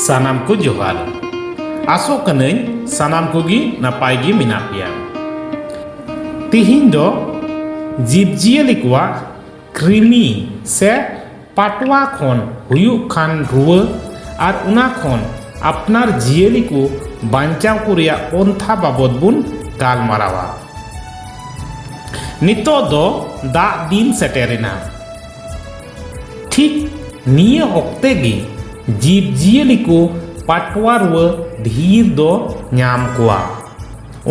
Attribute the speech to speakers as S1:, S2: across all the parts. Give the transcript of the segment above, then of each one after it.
S1: ᱥᱟᱱᱟᱢ ᱠᱚ ᱡᱚᱦᱟᱨ ᱟᱥᱚᱜ ᱠᱟᱹᱱᱟᱹᱧ ᱥᱟᱱᱟᱢ ᱠᱚᱜᱮ ᱱᱟᱯᱟᱭ ᱜᱮ ᱢᱮᱱᱟᱜ ᱯᱮᱭᱟ ᱛᱤᱦᱤᱧ ᱫᱚ ᱡᱤᱵᱽᱼᱡᱤᱭᱟᱹᱞᱤ ᱠᱚᱣᱟᱜ ᱠᱨᱤᱢᱤ ᱥᱮ ᱯᱟᱴᱣᱟ ᱠᱷᱚᱱ ᱦᱩᱭᱩᱜ ᱠᱷᱟᱱ ᱨᱩᱣᱟᱹ ᱟᱨ ᱚᱱᱟ ᱠᱷᱚᱱ ᱟᱯᱱᱟᱨ ᱡᱤᱭᱟᱹᱞᱤ ᱠᱚ ᱵᱟᱧᱪᱟᱣ ᱠᱚ ᱨᱮᱭᱟᱜ ᱯᱚᱱᱛᱷᱟ ᱵᱟᱵᱚᱫ ᱵᱚᱱ ᱜᱟᱞᱢᱟᱨᱟᱣᱟ ᱱᱤᱛᱚᱜ ᱫᱚ ᱫᱟᱜ ᱫᱤᱱ ᱥᱮᱴᱮᱨᱮᱱᱟ ᱴᱷᱤᱠ ᱱᱤᱭᱟᱹ ᱚᱠᱛᱮ ᱜᱮ ᱡᱤᱵᱽ ᱡᱤᱭᱟᱹᱞᱤ ᱠᱚ ᱯᱟᱴᱣᱟ ᱨᱩᱣᱟᱹ ᱰᱷᱮᱨ ᱫᱚ ᱧᱟᱢ ᱠᱚᱣᱟ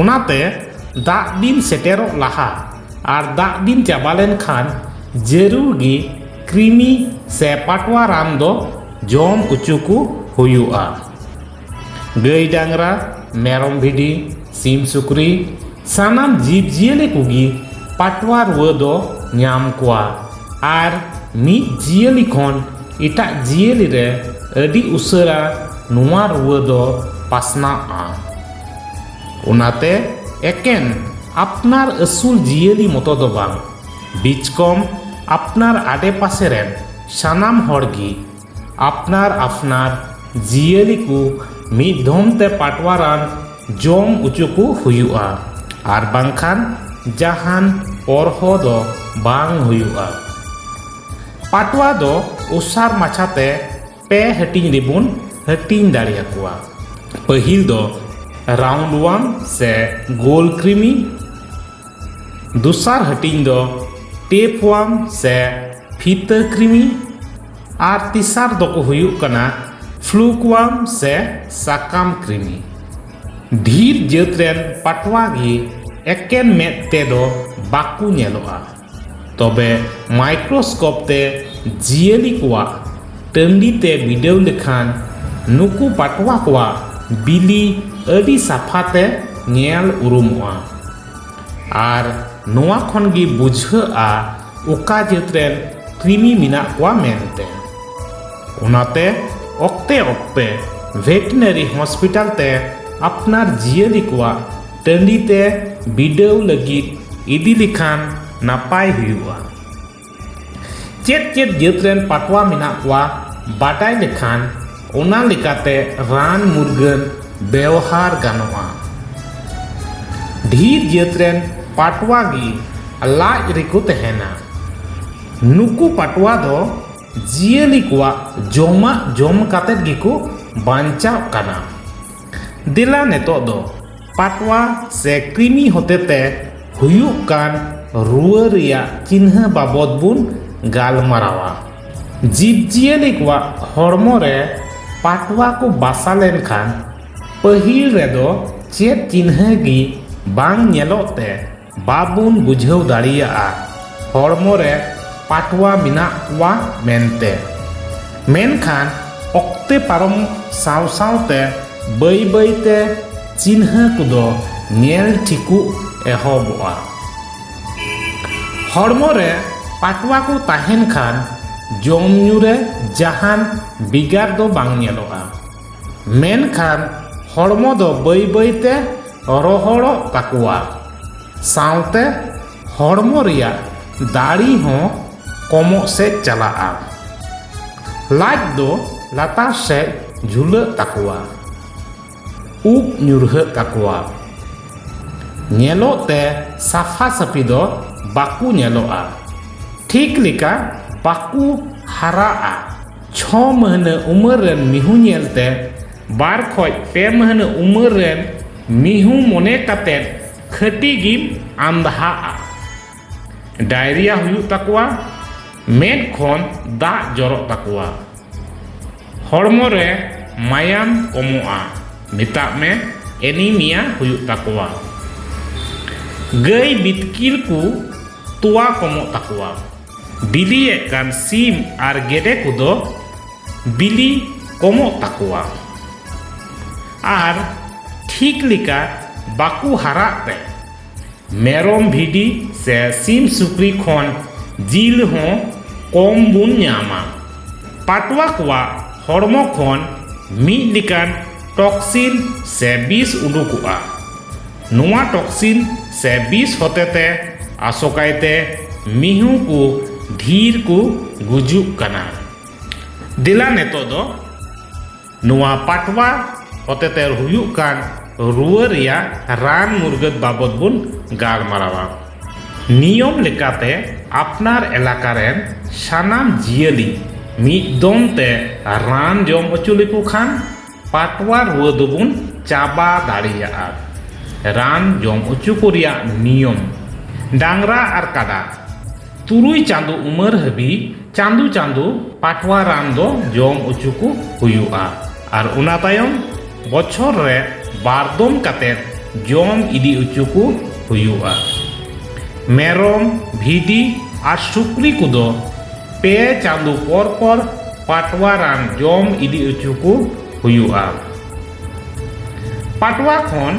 S1: ᱚᱱᱟᱛᱮ ᱫᱟᱜ ᱫᱤᱱ ᱥᱮᱴᱮᱨᱚᱜ ᱞᱟᱦᱟ ᱟᱨ ᱫᱟᱜ ᱫᱤᱱ ᱪᱟᱵᱟ ᱞᱮᱱᱠᱷᱟᱱ ᱡᱟᱹᱨᱩᱲ ᱜᱮ ᱠᱨᱤᱢᱤ ᱥᱮ ᱯᱟᱴᱣᱟ ᱨᱟᱱ ᱫᱚ ᱡᱚᱢ ᱦᱚᱪᱚ ᱠᱚ ᱦᱩᱭᱩᱜᱼᱟ ᱜᱟᱹᱭ ᱰᱟᱝᱨᱟ ᱢᱮᱨᱚᱢ ᱵᱷᱤᱰᱤ ᱥᱤᱢ ᱥᱩᱠᱨᱤ ᱥᱟᱱᱟᱢ ᱡᱤᱵᱽ ᱡᱤᱭᱟᱹᱞᱤ ᱠᱚᱜᱮ ᱯᱟᱴᱣᱟ ᱨᱩᱣᱟᱹ ᱫᱚ ᱧᱟᱢ ᱠᱚᱣᱟ ᱟᱨ ᱢᱤᱫ ᱡᱤᱭᱟᱹᱞᱤ ᱠᱷᱚᱱ ᱮᱴᱟᱜ ᱡᱤᱭᱟᱹᱞᱤ ᱨᱮ ᱟᱹᱰᱤ ᱩᱥᱟᱹᱨᱟ ᱱᱚᱣᱟ ᱨᱩᱣᱟᱹ ᱫᱚ ᱯᱟᱥᱱᱟᱜᱼᱟ ᱚᱱᱟᱛᱮ ᱮᱠᱮᱱ ᱟᱯᱱᱟᱨ ᱟᱹᱥᱩᱞ ᱡᱤᱭᱟᱹᱞᱤ ᱢᱚᱛᱚ ᱫᱚ ᱵᱟᱝ ᱵᱤᱪᱠᱚᱢ ᱟᱯᱱᱟᱨ ᱟᱰᱮ ᱯᱟᱥᱮ ᱨᱮᱱ ᱥᱟᱱᱟᱢ ᱦᱚᱲ ᱜᱮ ᱟᱯᱱᱟᱨ ᱟᱯᱱᱟᱨ ᱡᱤᱭᱟᱹᱞᱤ ᱠᱚ ᱢᱤᱫ ᱫᱷᱚᱢ ᱛᱮ ᱯᱟᱴᱣᱟ ᱨᱟᱱ ᱡᱚᱢ ᱚᱪᱚ ᱠᱚ ᱦᱩᱭᱩᱜᱼᱟ ᱟᱨ ᱵᱟᱝᱠᱷᱟᱱ ᱡᱟᱦᱟᱱ ᱚᱨᱦᱚ ᱫᱚ ᱵᱟᱝ ᱦᱩᱭᱩᱜᱼᱟ ᱯᱟᱴᱣᱟ ᱫᱚ ᱚᱥᱟᱨ ᱢᱟᱪᱷᱟᱛᱮ ᱯᱮ ᱦᱟᱹᱴᱤᱧ ᱨᱮᱵᱚᱱ ᱦᱟᱹᱴᱤᱧ ᱫᱟᱲᱮᱭᱟᱠᱚᱣᱟ ᱯᱟᱹᱦᱤᱞ ᱫᱚ ᱨᱟᱣᱩᱱᱰ ᱣᱟᱱ ᱥᱮ ᱜᱳᱞ ᱠᱨᱤᱢᱤ ᱫᱚᱥᱟᱨ ᱦᱟᱹᱴᱤᱧ ᱫᱚ ᱴᱮᱯ ᱣᱟᱱ ᱥᱮ ᱯᱷᱤᱛᱟᱹ ᱠᱨᱤᱢᱤ ᱟᱨ ᱛᱮᱥᱟᱨ ᱫᱚᱠᱚ ᱦᱩᱭᱩᱜ ᱠᱟᱱᱟ ᱯᱷᱞᱩᱠ ᱣᱟᱱ ᱥᱮ ᱥᱟᱠᱟᱢ ᱠᱨᱤᱢᱤ ᱰᱷᱤᱨ ᱡᱟᱹᱛ ᱨᱮᱱ ᱯᱟᱴᱣᱟ ᱜᱮ ᱮᱠᱮᱱ ᱢᱮᱫ ᱛᱮᱫᱚ ᱵᱟᱠᱚ ᱧᱮᱞᱚᱜᱼᱟ ᱛᱚᱵᱮ ᱢᱟᱭᱠᱨᱳᱥᱠᱳᱯ ᱛᱮ ᱡᱤᱭᱟᱹᱞᱤ ᱠᱚᱣᱟᱜ ᱴᱟᱺᱰᱤ ᱛᱮ ᱵᱤᱰᱟᱹᱣ ᱞᱮᱠᱷᱟᱱ ᱱᱩᱠᱩ ᱯᱟᱴᱣᱟ ᱠᱚᱣᱟᱜ ᱵᱤᱞᱤ ᱟᱹᱰᱤ ᱥᱟᱯᱷᱟ ᱛᱮ ᱧᱮᱞ ᱩᱨᱩᱢᱚᱜᱼᱟ ᱟᱨ ᱱᱚᱣᱟ ᱠᱷᱚᱱ ᱜᱮ ᱵᱩᱡᱷᱟᱹᱜᱼᱟ ᱚᱠᱟ ᱡᱟᱹᱛ ᱨᱮᱱ ᱠᱨᱤᱢᱤ ᱢᱮᱱᱟᱜ ᱠᱚᱣᱟ ᱢᱮᱱᱛᱮ ᱚᱱᱟᱛᱮ ᱚᱠᱛᱮ ᱚᱠᱛᱮ ᱵᱷᱮᱴᱮᱱᱟᱨᱤ ᱦᱚᱥᱯᱤᱴᱟᱞ ᱛᱮ ᱟᱯᱱᱟᱨ ᱡᱤᱭᱟᱹᱞᱤ ᱠᱚᱣᱟᱜ ᱴᱟᱺᱰᱤ ᱛᱮ ᱵᱤᱰᱟᱹᱣ ᱞᱟᱹᱜᱤᱫ ᱤᱫᱤ ᱞᱮᱠᱷᱟᱱ ᱱᱟᱯᱟᱭ ᱦᱩᱭᱩᱜᱼᱟ ᱪᱮᱫ ᱪᱮᱫ ᱡᱟᱹᱛ ᱨᱮᱱ ᱯᱟᱴᱣᱟ ᱢᱮᱱᱟᱜ ᱠᱚᱣᱟ ᱵᱟᱰᱟᱭ ᱞᱮᱠᱷᱟᱱ ᱚᱱᱟ ᱞᱮᱠᱟᱛᱮ ᱨᱟᱱ ᱢᱩᱨᱜᱟᱹᱱ ᱵᱮᱣᱦᱟᱨ ᱜᱟᱱᱚᱜᱼᱟ ᱰᱷᱮᱨ ᱡᱟᱹᱛ ᱨᱮᱱ ᱯᱟᱴᱣᱟ ᱜᱮ ᱞᱟᱡ ᱨᱮᱠᱚ ᱛᱟᱦᱮᱱᱟ ᱱᱩᱠᱩ ᱯᱟᱴᱣᱟ ᱫᱚ ᱡᱤᱭᱟᱹᱞᱤ ᱠᱚᱣᱟᱜ ᱡᱚᱢᱟᱜ ᱡᱚᱢ ᱠᱟᱛᱮᱫ ᱜᱮᱠᱚ ᱵᱟᱧᱪᱟᱜ ᱠᱟᱱᱟ ᱫᱮᱞᱟ ᱱᱤᱛᱚᱜ ᱫᱚ ᱯᱟᱴᱣᱟ ᱥᱮ ᱠᱨᱤᱢᱤ ᱦᱚᱛᱮᱛᱮ ᱦᱩᱭᱩᱜ ᱠᱟᱱ ᱨᱩᱣᱟᱹ ᱨᱮᱭᱟᱜ ᱪᱤᱱᱦᱟᱹ ᱵᱟᱵᱚᱫ ᱵᱚᱱ ᱜᱟᱞᱢᱟᱨᱟᱣᱟ ᱡᱤᱵᱽ ᱡᱤᱭᱟᱹᱞᱤ ᱠᱚᱣᱟᱜ ᱦᱚᱲᱢᱚ ᱨᱮ ᱯᱟᱴᱣᱟ ᱠᱚ ᱵᱟᱥᱟ ᱞᱮᱱᱠᱷᱟᱱ ᱯᱟᱹᱦᱤᱞ ᱨᱮᱫᱚ ᱪᱮᱫ ᱪᱤᱱᱦᱟᱹ ᱜᱮ ᱵᱟᱝ ᱧᱮᱞᱚᱜ ᱛᱮ ᱵᱟᱵᱚᱱ ᱵᱩᱡᱷᱟᱹᱣ ᱫᱟᱲᱮᱭᱟᱜᱼᱟ ᱦᱚᱲᱢᱚ ᱨᱮ ᱯᱟᱴᱣᱟ ᱢᱮᱱᱟᱜ ᱠᱚᱣᱟ ᱢᱮᱱᱛᱮ᱾ ᱢᱮᱱᱠᱷᱟᱱ ᱚᱠᱛᱮ ᱯᱟᱨᱚᱢ ᱥᱟᱶ ᱥᱟᱶᱛᱮ ᱵᱟᱹᱭ ᱵᱟᱹᱭ ᱛᱮ ᱪᱤᱱᱦᱟᱹ ᱠᱚᱫᱚ ᱧᱮᱞ ᱴᱷᱤᱠᱚᱜ ᱮᱦᱚᱵᱚᱜᱼᱟ᱾ ᱦᱚᱲᱢᱚ ᱨᱮ ᱯᱟᱴᱣᱟ ᱠᱚ ᱛᱟᱦᱮᱸᱱ ᱠᱷᱟᱱ ᱡᱚᱢ ᱧᱩ ᱨᱮ ᱡᱟᱦᱟᱸᱱ ᱵᱮᱜᱟᱨ ᱫᱚ ᱵᱟᱝ ᱧᱮᱞᱚᱜᱼᱟ᱾ ᱢᱮᱱᱠᱷᱟᱱ ᱦᱚᱲᱢᱚ ᱫᱚ ᱵᱟᱹᱭ ᱵᱟᱹᱭᱛᱮ ᱨᱚᱦᱚᱲᱚᱜ ᱛᱟᱠᱚᱣᱟ ᱥᱟᱶᱛᱮ ᱦᱚᱲᱢᱚ ᱨᱮᱭᱟᱜ ᱫᱟᱲᱮ ᱦᱚᱸ ᱠᱚᱢᱚᱜ ᱥᱮᱫ ᱪᱟᱞᱟᱜᱼᱟ ᱞᱟᱡ ᱫᱚ ᱞᱟᱛᱟᱨ ᱥᱮᱫ ᱡᱷᱩᱞᱟᱹᱜ ᱛᱟᱠᱚᱣᱟ ᱩᱵ ᱧᱩᱨᱦᱟᱹᱜ ᱛᱟᱠᱚᱣᱟ ᱧᱮᱞᱚᱜ ᱛᱮ ᱥᱟᱯᱷᱟ ᱥᱟᱹᱯᱷᱤ ᱫᱚ ᱵᱟᱠᱚ ᱧᱮᱞᱚᱜᱼᱟ ᱴᱷᱤᱠ ᱞᱮᱠᱟ ᱵᱟᱠᱚ ᱦᱟᱨᱟᱜᱼᱟ ᱪᱷᱚ ᱢᱟᱹᱦᱱᱟᱹ ᱩᱢᱮᱨ ᱨᱮᱱ ᱢᱤᱦᱩ ᱧᱮᱞ ᱛᱮ ᱵᱟᱨ ᱠᱷᱚᱡ ᱯᱮ ᱢᱟᱹᱦᱱᱟᱹ ᱩᱢᱮᱨ ᱨᱮᱱ ᱢᱤᱦᱩ ᱢᱚᱱᱮ ᱠᱟᱛᱮ ᱠᱷᱟᱹᱴᱤ ᱜᱮᱢ ᱟᱸᱫᱷᱟᱜᱼᱟ ᱰᱟᱭᱨᱤᱭᱟ ᱦᱩᱭᱩᱜ ᱛᱟᱠᱚᱣᱟ ᱢᱮᱫ ᱠᱷᱚᱱ ᱫᱟᱜ ᱡᱚᱨᱚᱜ ᱛᱟᱠᱚᱣᱟ ᱦᱚᱲᱢᱚ ᱨᱮ ᱢᱟᱭᱟᱢ ᱠᱚᱢᱚᱜᱼᱟ ᱢᱮᱛᱟᱜ ᱢᱮ ᱮᱱᱤᱢᱤᱭᱟ ᱦᱩᱭᱩᱜ ᱛᱟᱠᱚᱣᱟ ᱜᱟᱹᱭ ᱵᱤᱛᱠᱤᱞ ᱠᱚ ᱛᱚᱣᱟ ᱠᱚᱢᱚᱜ ᱛᱟᱠᱚᱣᱟ ᱵᱤᱞᱤᱭᱮᱫ ᱠᱟᱱ ᱥᱤᱢ ᱟᱨ ᱜᱮᱰᱮ ᱠᱚᱫᱚ ᱵᱤᱞᱤ ᱠᱚᱢᱚᱜ ᱛᱟᱠᱚᱣᱟ ᱟᱨ ᱴᱷᱤᱠ ᱞᱮᱠᱟ ᱵᱟᱠᱚ ᱦᱟᱨᱟᱜ ᱛᱮ ᱢᱮᱨᱚᱢ ᱵᱷᱤᱰᱤ ᱥᱮ ᱥᱤᱢ ᱥᱩᱠᱨᱤ ᱠᱷᱚᱱ ᱡᱤᱞ ᱦᱚᱸ ᱠᱚᱢ ᱵᱚᱱ ᱧᱟᱢᱟ ᱯᱟᱴᱣᱟ ᱠᱚᱣᱟᱜ ᱦᱚᱲᱢᱚ ᱠᱷᱚᱱ ᱢᱤᱫ ᱞᱮᱠᱟᱱ ᱴᱚᱠᱥᱤᱱ ᱥᱮ ᱵᱤᱥ ᱩᱰᱩᱠᱚᱜᱼᱟ ᱱᱚᱣᱟ ᱴᱚᱠᱥᱤᱱ ᱥᱮ ᱵᱤᱥ ᱦᱚᱛᱮᱛᱮ ᱟᱥᱚᱠᱟᱭᱛᱮ ᱢᱤᱦᱩ ᱠᱚ ᱰᱷᱤᱨ ᱠᱚ ᱜᱩᱡᱩᱜ ᱠᱟᱱᱟ ᱫᱮᱞᱟ ᱱᱤᱛᱚᱜ ᱫᱚ ᱱᱚᱣᱟ ᱯᱟᱴᱣᱟ ᱦᱚᱛᱮᱛᱮ ᱦᱩᱭᱩᱜ ᱠᱟᱱ ᱨᱩᱣᱟᱹ ᱨᱮᱭᱟᱜ ᱨᱟᱱ ᱢᱩᱨᱜᱟᱹᱫ ᱵᱟᱵᱚᱫ ᱵᱚᱱ ᱜᱟᱞᱢᱟᱨᱟᱣᱟ ᱱᱤᱭᱚᱢ ᱞᱮᱠᱟᱛᱮ ᱟᱯᱱᱟᱨ ᱮᱞᱟᱠᱟ ᱨᱮᱱ ᱥᱟᱱᱟᱢ ᱡᱤᱭᱟᱹᱞᱤ ᱢᱤᱫ ᱫᱚᱢ ᱛᱮ ᱨᱟᱱ ᱡᱚᱢ ᱦᱚᱪᱚ ᱞᱮᱠᱚ ᱠᱷᱟᱱ ᱯᱟᱴᱣᱟ ᱨᱩᱣᱟᱹ ᱫᱚᱵᱚᱱ ᱪᱟᱵᱟ ᱫᱟᱲᱮᱭᱟᱜᱼᱟ᱾ ᱨᱟᱱ ᱡᱚᱢ ᱚᱪᱚ ᱠᱚ ᱨᱮᱭᱟᱜ ᱱᱤᱭᱚᱢ᱾ ᱰᱟᱝᱨᱟ ᱟᱨ ᱠᱟᱰᱟ ᱛᱩᱨᱩᱭ ᱪᱟᱸᱫᱚ ᱩᱢᱟᱹᱨ ᱦᱟᱹᱵᱤᱡ ᱪᱟᱸᱫᱚ ᱪᱟᱸᱫᱚ ᱯᱟᱴᱣᱟ ᱨᱟᱱ ᱫᱚ ᱡᱚᱢ ᱚᱪᱚ ᱠᱚ ᱦᱩᱭᱩᱜᱼᱟ ᱟᱨ ᱚᱱᱟ ᱛᱟᱭᱚᱢ ᱵᱚᱪᱷᱚᱨ ᱨᱮ ᱵᱟᱨ ᱫᱚᱢ ᱠᱟᱛᱮ ᱡᱚᱢ ᱤᱫᱤ ᱚᱪᱚ ᱠᱚ ᱦᱩᱭᱩᱜᱼᱟ᱾ ᱢᱮᱨᱚᱢ, ᱵᱷᱤᱰᱤ ᱟᱨ ᱥᱩᱠᱨᱤ ᱠᱚᱫᱚ᱾ ᱯᱮ ᱪᱟᱸᱫᱚ ᱯᱚᱨ ᱯᱚᱨ ᱯᱟᱴᱣᱟ ᱨᱟᱱ ᱡᱚᱢ ᱤᱫᱤ ᱚᱪᱚ ᱠᱚ ᱦᱩᱭᱩᱜᱼᱟ ᱯᱟᱴᱣᱟ ᱠᱷᱚᱱ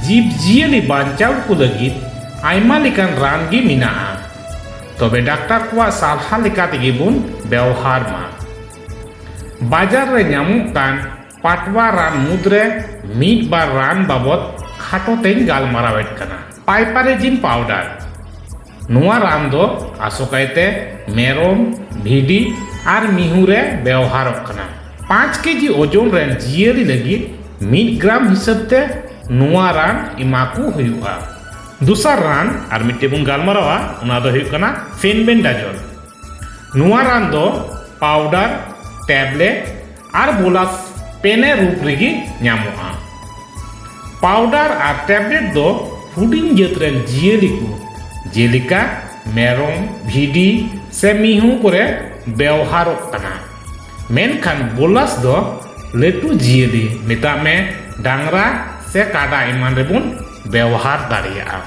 S1: ᱡᱤᱵᱽ ᱡᱤᱭᱟᱹᱞᱤ ᱵᱟᱧᱪᱟᱣ ᱠᱚ ᱞᱟᱹᱜᱤᱫ ᱟᱭᱢᱟ ᱞᱮᱠᱟᱱ ᱨᱟᱱ ᱜᱮ ᱢᱮᱱᱟᱜᱼᱟ ᱛᱚᱵᱮ ᱰᱟᱠᱛᱟᱨ ᱠᱚᱣᱟᱜ ᱥᱟᱞᱦᱟ ᱞᱮᱠᱟ ᱛᱮᱜᱮ ᱵᱚᱱ ᱵᱮᱣᱦᱟᱨ ᱢᱟ ᱵᱟᱡᱟᱨ ᱨᱮ ᱧᱟᱢᱚᱜ ᱠᱟᱱ ᱯᱟᱴᱣᱟ ᱨᱟᱱ ᱢᱩᱫᱽᱨᱮ ᱢᱤᱫ ᱵᱟᱨ ᱨᱟᱱ ᱵᱟᱵᱚᱫ ᱠᱷᱟᱴᱚ ᱛᱮᱧ ᱜᱟᱞᱢᱟᱨᱟᱣᱮᱫ ᱠᱟᱱᱟ ᱯᱟᱭᱯᱟᱨᱮᱡᱤᱱ ᱯᱟᱣᱰᱟᱨ ᱱᱚᱣᱟ ᱨᱟᱱ ᱫᱚ ᱟᱥᱚᱠᱟᱭᱛᱮ ᱢᱮᱨᱚᱢ ᱵᱷᱤᱰᱤ ᱟᱨ ᱢᱤᱦᱩ ᱨᱮ ᱵᱮᱣᱦᱟᱨᱚᱜ ᱠᱟᱱᱟ ᱯᱟᱸᱪ ᱠᱮᱡᱤ ᱳᱡᱚᱱ ᱨᱮᱱ ᱡᱤᱭᱟᱹᱞᱤ ᱞᱟᱹᱜᱤᱫ ᱢᱤᱫ ᱜᱨᱟᱢ ᱦᱤᱥᱟᱹᱵ ᱛᱮ ᱱᱚᱣᱟ ᱨᱟᱱ ᱮᱢᱟ ᱠᱚ ᱦᱩᱭᱩᱜᱼᱟ ᱫᱚᱥᱟᱨ ᱨᱟᱱ ᱟᱨ ᱢᱤᱫᱴᱮᱱ ᱵᱚᱱ ᱜᱟᱞᱢᱟᱨᱟᱣᱟ ᱚᱱᱟ ᱫᱚ ᱦᱩᱭᱩᱜ ᱠᱟᱱᱟ ᱯᱷᱮᱱᱵᱮᱱᱰᱟᱡᱚᱞ ᱱᱚᱣᱟ ᱨᱟᱱ ᱫᱚ ᱯᱟᱣᱰᱟᱨ ᱴᱮᱵᱽᱞᱮᱴ ᱟᱨ ᱵᱚᱞᱟᱛ ᱯᱮᱱᱮ ᱨᱩᱯ ᱨᱮᱜᱮ ᱧᱟᱢᱚᱜᱼᱟ ᱯᱟᱣᱰᱟᱨ ᱟᱨ ᱴᱮᱵᱞᱮᱴ ᱫᱚ ᱦᱩᱰᱤᱧ ᱡᱟᱹᱛ ᱨᱮᱱ ᱡᱤᱭᱟᱹᱞᱤ ᱠᱚ ᱡᱮᱞᱮᱠᱟ ᱢᱮᱨᱚᱢ ᱵᱷᱤᱰᱤ ᱥᱮ ᱢᱤᱦᱩ ᱠᱚᱨᱮ ᱵᱮᱣᱦᱟᱨᱚᱜ ᱠᱟᱱᱟ ᱢᱮᱱᱠᱷᱟᱱ ᱵᱚᱞᱟᱥ ᱫᱚ ᱞᱟᱹᱴᱩ ᱡᱤᱭᱟᱹᱞᱤ ᱢᱮᱛᱟᱜ ᱢᱮ ᱰᱟᱝᱨᱟ ᱥᱮ ᱠᱟᱰᱟ ᱮᱢᱟᱱ ᱨᱮᱵᱚᱱ ᱵᱮᱣᱦᱟᱨ ᱫᱟᱲᱮᱭᱟᱜᱼᱟ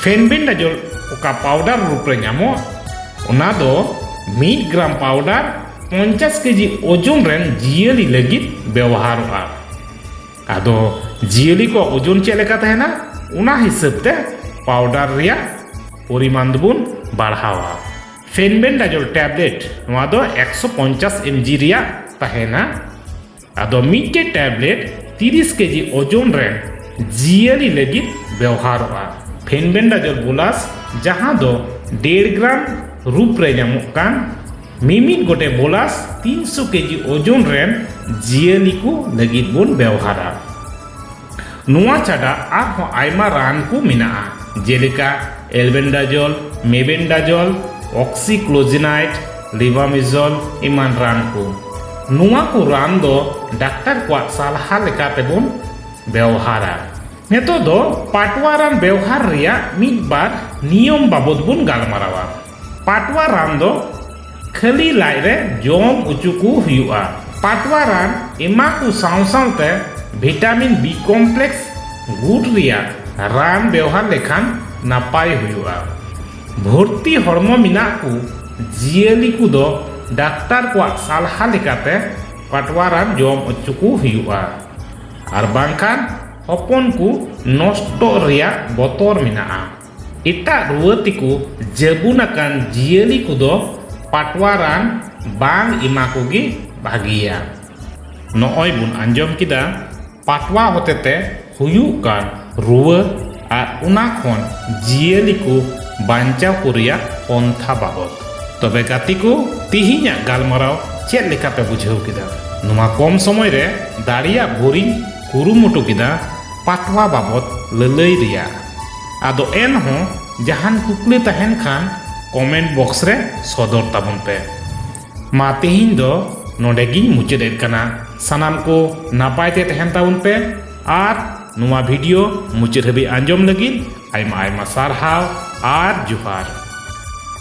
S1: ᱯᱷᱮᱱᱵᱮᱱᱰᱟᱡᱚᱞ ᱚᱠᱟ ᱯᱟᱣᱰᱟᱨ ᱨᱩᱯ ᱨᱮ ᱧᱟᱢᱚᱜ ᱚᱱᱟ ᱫᱚ ᱢᱤᱫ ᱜᱨᱟᱢ ᱯᱟᱣᱰᱟᱨ ᱯᱚᱧᱪᱟᱥ ᱠᱮᱡᱤ ᱳᱡᱚᱱ ᱨᱮᱱ ᱡᱤᱭᱟᱹᱞᱤ ᱞᱟᱹᱜᱤᱫ ᱵᱮᱣᱦᱟᱨᱚᱜᱼᱟ ᱟᱫᱚ ᱡᱤᱭᱟᱹᱞᱤ ᱠᱚᱣᱟᱜ ᱳᱡᱚᱱ ᱪᱮᱫ ᱞᱮᱠᱟ ᱛᱟᱦᱮᱱᱟ ᱚᱱᱟ ᱦᱤᱥᱟᱹᱵ ᱛᱮ ᱯᱟᱣᱰᱟᱨ ᱨᱮᱭᱟᱜ ᱯᱚᱨᱤᱢᱟᱱ ᱫᱚᱵᱚᱱ ᱵᱟᱲᱦᱟᱣᱟ ᱯᱷᱮᱱᱵᱮᱱᱰᱟᱡᱳᱞ ᱴᱮᱵᱽᱞᱮᱴ ᱱᱚᱣᱟ ᱫᱚ ᱮᱠᱥᱚ ᱯᱚᱧᱪᱟᱥ ᱮᱢ ᱡᱤ ᱨᱮᱭᱟᱜ ᱛᱟᱦᱮᱱᱟ ᱟᱫᱚ ᱢᱤᱫᱴᱮᱡ ᱴᱮᱵᱞᱮᱴ 30 ᱠᱮᱡᱤ ᱳᱡᱚᱱ ᱨᱮᱱ ᱡᱤᱭᱟᱹᱞᱤ ᱞᱟᱹᱜᱤᱫ ᱵᱮᱣᱦᱟᱨᱚᱜᱼᱟ ᱯᱷᱮᱱᱵᱮᱱᱰᱟᱡᱚᱞ ᱵᱳᱞᱟᱥ ᱡᱟᱦᱟᱸ ᱫᱚ ᱰᱮᱲ ᱜᱨᱟᱢ ᱨᱩᱯ ᱨᱮ ᱧᱟᱢᱚᱜ ᱠᱟᱱ ᱢᱤᱢᱤᱫ ᱜᱚᱴᱮᱡ ᱵᱳᱞᱟᱥ 300 ᱠᱮᱡᱤ ᱳᱡᱚᱱ ᱨᱮᱱ ᱡᱤᱭᱟᱹᱞᱤ ᱠᱚ ᱞᱟᱹᱜᱤᱫ ᱵᱚᱱ ᱵᱮᱣᱦᱟᱨᱟ ᱱᱚᱣᱟ ᱪᱷᱟᱰᱟ ᱟᱨᱦᱚᱸ ᱟᱭᱢᱟ ᱨᱟᱱ ᱠᱚ ᱢᱮᱱᱟᱜᱼᱟ ᱡᱮᱞᱮᱠᱟ ᱮᱞᱵᱮᱱᱰᱟᱡᱚᱞ ᱢᱮᱵᱮᱱᱰᱟᱡᱚᱞ ᱚᱠᱥᱤᱠᱞᱳᱡᱤᱱᱟᱭᱤᱰ ᱞᱤᱵᱟᱢᱤᱡᱚᱞ ᱮᱢᱟᱱ ᱨᱟᱱ ᱠᱚ ᱱᱚᱣᱟ ᱠᱚ ᱨᱟᱱ ᱫᱚ ᱰᱟᱠᱛᱟᱨ ᱠᱚᱣᱟᱜ ᱥᱟᱞᱦᱟ ᱞᱮᱠᱟ ᱛᱮᱵᱚᱱ ᱵᱮᱣᱦᱟᱨᱟ ᱱᱤᱛᱚᱜ ᱫᱚ ᱯᱟᱴᱣᱟ ᱨᱟᱱ ᱵᱮᱣᱦᱟᱨ ᱨᱮᱭᱟᱜ ᱢᱤᱫ ᱵᱟᱨ ᱱᱤᱭᱚᱢ ᱵᱟᱵᱚᱛ ᱵᱚᱱ ᱜᱟᱞᱢᱟᱨᱟᱣᱟ ᱯᱟᱴᱣᱟ ᱨᱟᱱ ᱫᱚ ᱠᱷᱟᱹᱞᱤ ᱞᱟᱡ ᱨᱮ ᱡᱚᱢ ᱚᱪᱚ ᱠᱚ ᱦᱩᱭᱩᱜᱼᱟ ᱯᱟᱴᱣᱟ ᱨᱟᱱ ᱮᱢᱟ ᱠᱚ ᱥᱟᱶ ᱥᱟᱶᱛᱮ ᱵᱷᱤᱴᱟᱢᱤᱱ ᱵᱤ ᱠᱚᱢᱯᱞᱮᱠᱥ ᱜᱩᱴ ᱨᱮᱭᱟᱜ ᱨᱟᱱ ᱵᱮᱣᱦᱟᱨ ᱞᱮᱠᱷᱟᱱ ᱱᱟᱯᱟᱭ ᱦᱩᱭᱩᱜᱼᱟ ᱵᱷᱚᱨᱛᱤ ᱦᱚᱲᱢᱚ ᱢᱮᱱᱟᱜ ᱠᱚ ᱡᱤᱭᱟᱹᱞᱤ ᱠᱚᱫᱚ ᱰᱟᱠᱛᱟᱨ ᱠᱚᱣᱟᱜ ᱥᱟᱞᱦᱟ ᱞᱮᱠᱟᱛᱮ ᱯᱟᱴᱣᱟ ᱨᱟᱱ ᱡᱚᱢ ᱚᱪᱚ ᱠᱚ ᱦᱩᱭᱩᱜᱼᱟ ᱟᱨ ᱵᱟᱝᱠᱷᱟᱱ ᱦᱚᱯᱚᱱ ᱠᱚ ᱱᱚᱥᱴᱚᱜ ᱨᱮᱭᱟᱜ ᱵᱚᱛᱚᱨ ᱢᱮᱱᱟᱜᱼᱟ ᱮᱴᱟᱜ ᱨᱩᱣᱟᱹ ᱛᱮᱠᱚ ᱡᱟᱹᱵᱩᱱ ᱟᱠᱟᱱ ᱡᱤᱭᱟᱹᱞᱤ ᱠᱚᱫᱚ ᱯᱟᱴᱣᱟ ᱨᱟᱱ ᱵᱟᱝ ᱮᱢᱟ ᱠᱚᱜᱮ ᱵᱷᱟᱹᱜᱤᱭᱟ ᱱᱚᱜᱼᱚᱭ ᱵᱚᱱ ᱟᱸᱡᱚᱢ ᱠᱮᱫᱟ ᱯᱟᱴᱣᱟ ᱦᱚᱛᱮᱛᱮ ᱦᱩᱭᱩᱜ ᱠᱟᱱ ᱨᱩᱣᱟᱹ ᱟᱨ ᱚᱱᱟ ᱠᱷᱚᱱ ᱡᱤᱭᱟᱹᱞᱤ ᱠᱚ ᱵᱟᱧᱪᱟᱣ ᱠᱚ ᱨᱮᱭᱟᱜ ᱯᱚᱱᱛᱷᱟ ᱵᱟᱵᱚᱫ ᱛᱚᱵᱮ ᱜᱟᱛᱮ ᱠᱚ ᱛᱮᱦᱮᱧᱟᱜ ᱜᱟᱞᱢᱟᱨᱟᱣ ᱪᱮᱫ ᱞᱮᱠᱟᱯᱮ ᱵᱩᱡᱷᱟᱹᱣ ᱠᱮᱫᱟ ᱱᱚᱣᱟ ᱠᱚᱢ ᱥᱚᱢᱚᱭ ᱨᱮ ᱫᱟᱲᱮᱭᱟᱜ ᱵᱷᱳᱨᱤᱧ ᱠᱩᱨᱩᱢᱩᱴᱩ ᱠᱮᱫᱟ ᱯᱟᱴᱣᱟ ᱵᱟᱵᱚᱫ ᱞᱟᱹᱞᱟᱹᱭ ᱨᱮᱭᱟᱜ ᱟᱫᱚ ᱮᱱᱦᱚᱸ ᱡᱟᱦᱟᱱ ᱠᱩᱠᱞᱤ ᱛᱟᱦᱮᱱ ᱠᱷᱟᱱ ᱠᱚᱢᱮᱱᱴ ᱵᱚᱠᱥ ᱨᱮ ᱥᱚᱫᱚᱨ ᱛᱟᱵᱚᱱ ᱯᱮ ᱢᱟ ᱛᱮᱦᱮᱧ ᱫᱚ ᱱᱚᱰᱮ ᱜᱤᱧ ᱢᱩᱪᱟᱹᱫ ᱮᱫ ᱠᱟᱱᱟ ᱥᱟᱱᱟᱢ ᱠᱚ ᱱᱟᱯᱟᱭ ᱛᱮ ᱛᱟᱦᱮᱱ ᱛᱟᱵᱚᱱ ᱯᱮ ᱟᱨ ᱱᱚᱣᱟ ᱵᱷᱤᱰᱤᱭᱳ ᱢᱩᱪᱟᱹᱫ ᱦᱟᱹᱵᱤᱡ ᱟᱸᱡᱚᱢ ᱞᱟᱹᱜᱤᱫ ᱟᱭᱢᱟ ᱟᱭᱢᱟ ᱥᱟᱨᱦᱟᱣ ᱟᱨ ᱡᱚᱦᱟᱨ